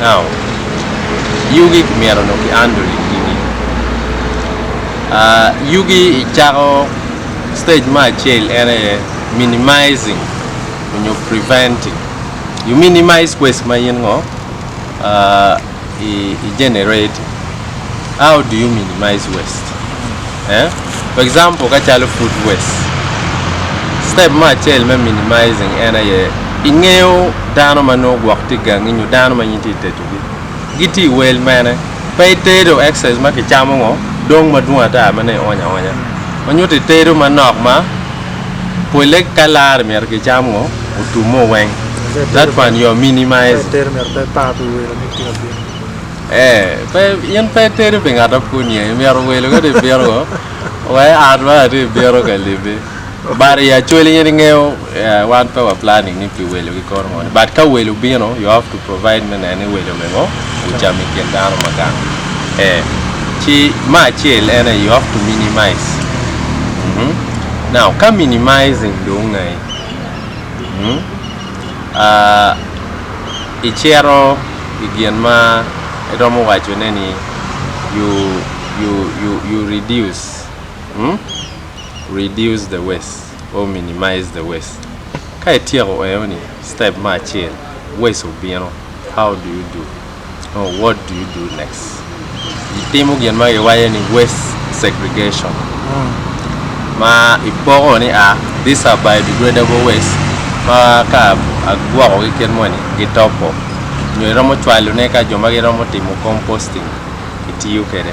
Now, yugi myero onongo kiandol i kidi. Uh, yugi i cako stage me acel en aye minimizing onyo preventing. You minimize waste ma in ngo uh, i, i generate. How do you minimize waste? Eh? For example, ka calo food waste. Step me acel me minimizing en aye ingeyo dano ma nongo gwok tye gangi nyo dano ma in tye itedogi. Gitye i wel mene? Pe itedo excess ma kicamo ngo dong madwong ata ma nongo ionyo aonya. Ma nyuto itedo manok ma pole ka lare myero kicam ngo? Otum mo weng. That one you are minimizing. Ee, pe, in pe itedo pi ngat ma pud niang. Imyero welo ka dong ibino woko, wa i ot ma latin ibino ka libbi. But i actually in ingeyo, eh, wan pe wa planning ni pi welo ki kono moni. But ka welo bino, you have to provide me neno ni welo bene o, ocamo i kin dano ma gang. Eh, ci me acel en aye you have to minimize. Mhm. Now, ka minimizing dong ngai? Mhm. icito i gin ma iromo wacone ni you reduce the waste or minimize the waste ka ityeko eno ni step me acel waste obino how do you do. Oh what do you do next? Itimo gin ma giwaco ni waste segregation ma ipoko ni a these are biodegradable waste ma ka agwokogi kit moni gitopo nyo iromo cwalone ka jo ma giromo timo composting gitiyo kwede.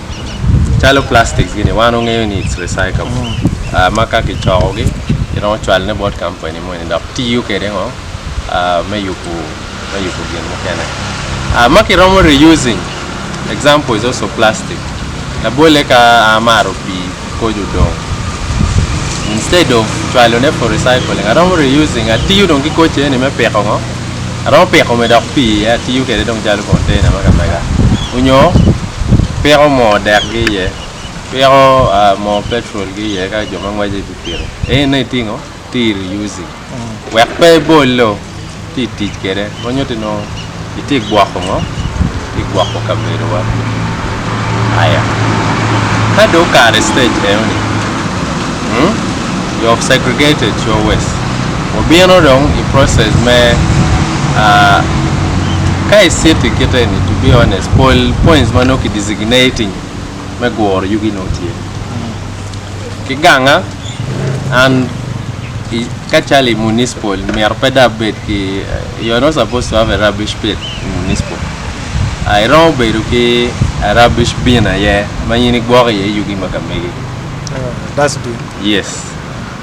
calo plastic gini wan wangeyo ni it's recyclable ma ka kicoko gi kiromo cwalo ne bot kampani moni dok tiyo kwede ngo me yubo me yubo gin mukene ma kiromo reusing example is also plastic labolle ka amaro pii koco dong instead of cwalo ne for recycling aromo reusing atiyo dong ki koco eni me piko ngo aromo piko me dok pi iye atiyo kwede dong calo container me kamega onyo piko moo dek gi iye piko moo petrol gi iye ka jo ma ngweco i pikipiki enini itingo. tiri usi wek pe ibolo ci i tic kwede ma nyuto ni itye ka gwoko ngo itye ka gwoko kabedowa aya ka dong okato i stage eno ni you have segregated your waste wabino dong i process me ka i city kit eni to be honest pol points ma nongo ki designating me guro yugi nongo tye ki ganga an ka calo i municipal myero pe dong abed ki you are not supposed to have a rubbish pit in municipal uh, iromo bedo ki a rubbish bin aye ma in igwoko iye yugi ma ka megi Uh, dustbin. yes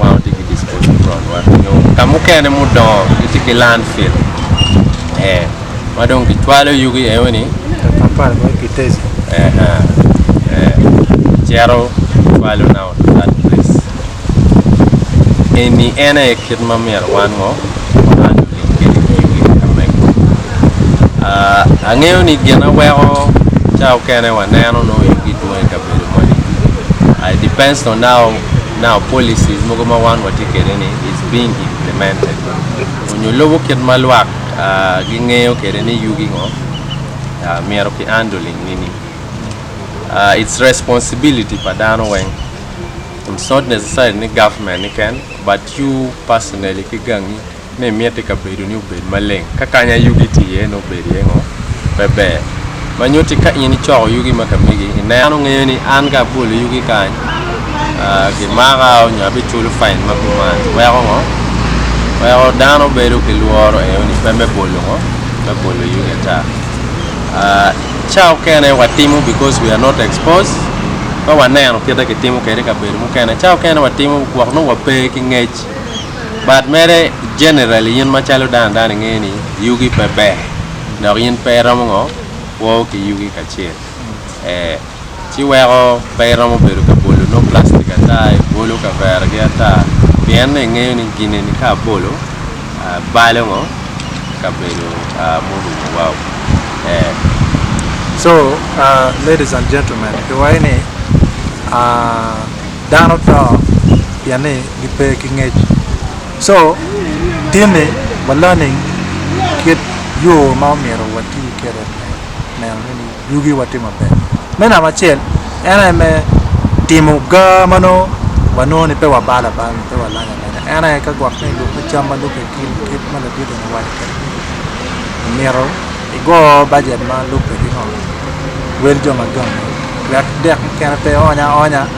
Wan watye ki disposal ground wa nyo ka mukene mudongo gitye ki land fill ee ma dong kicwalo yugi eo ni Kampala ma Kiteji eha ee kicito kicwalo now to that place eni en aye kit ma myero wan ngo wan lulim kwede ki yugi me ka mego aa angeyo ni gin aweko ca okene waneno nongo yugi dwong i kabedo moni aa it depends on how Now policies mogo ma wan watye kwede ni is being implemented onyo lubo kit ma lwak gi ngeyo kwede ni yugi ngo myero ki andling nini. It's responsibility pa dano weng it's not necessarily ni government ni ken but you personally ki gangi. ni imiti kabedoni obed maleng, ka kanya yugi tye iye nongo bedo iye ngo pe ber, ma nyuto ni ka in icoko yugi ma kamegi i neno ngeyo ni an ka abolo yugi kany gimaka nyo abiculo fine ma kuman weko ngo weko dano bedo ki lworo enoni pe me bolo ngo me bolo yugi ata ca okene watimo because we are not exposed pe waneno kite kitimo kede i kabedo mukene ca okene watimo gwok nongo wape ki ngec. But mere generally in macalo dano dano ingeyo ni yugi pe ber dok in pe iromo ngo kwo ki yugi kacel ee ci weko pe iromo bedo ka bolo nongo plastic ata ibolo kavera gi ata pien ni ingeyo ni gin eni ka abolo balo ngo kabedo murumo wa oo ee. So ladies and gentlemen kiwayo ni dano to pien ni. gipe ki ngec. Co tinni wa learning kit yo ma omyero wati kede me neno ni yugi wa tye maber. Me namba acel en aye me timo ga ma nongo wa nongo ni pe wa balo abala nyo pe wa lanyo alanya en aye ka gwok ni lube cam ma lube gin kit ma ladit eni owaco kede ni omyero igo bajet ma lube ki ngo wel jo ma gangi wek dek mukene pe ony aonya.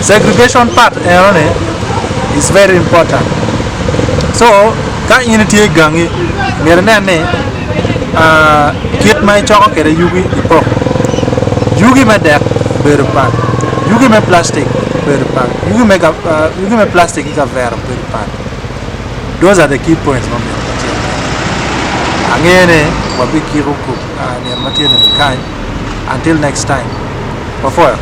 Segregation part enoni is very important so ka in itye i gangi myero inen ni kit ma icoko kwede yugi ipoko, yugi me dek obedo pat, yugi me plastic obedo pat, yugi me plastic ki kavera obedo pat those are the key points ma myero wacen iye, ange ni wabikiko myero matye ni kany until next time wapwoyo.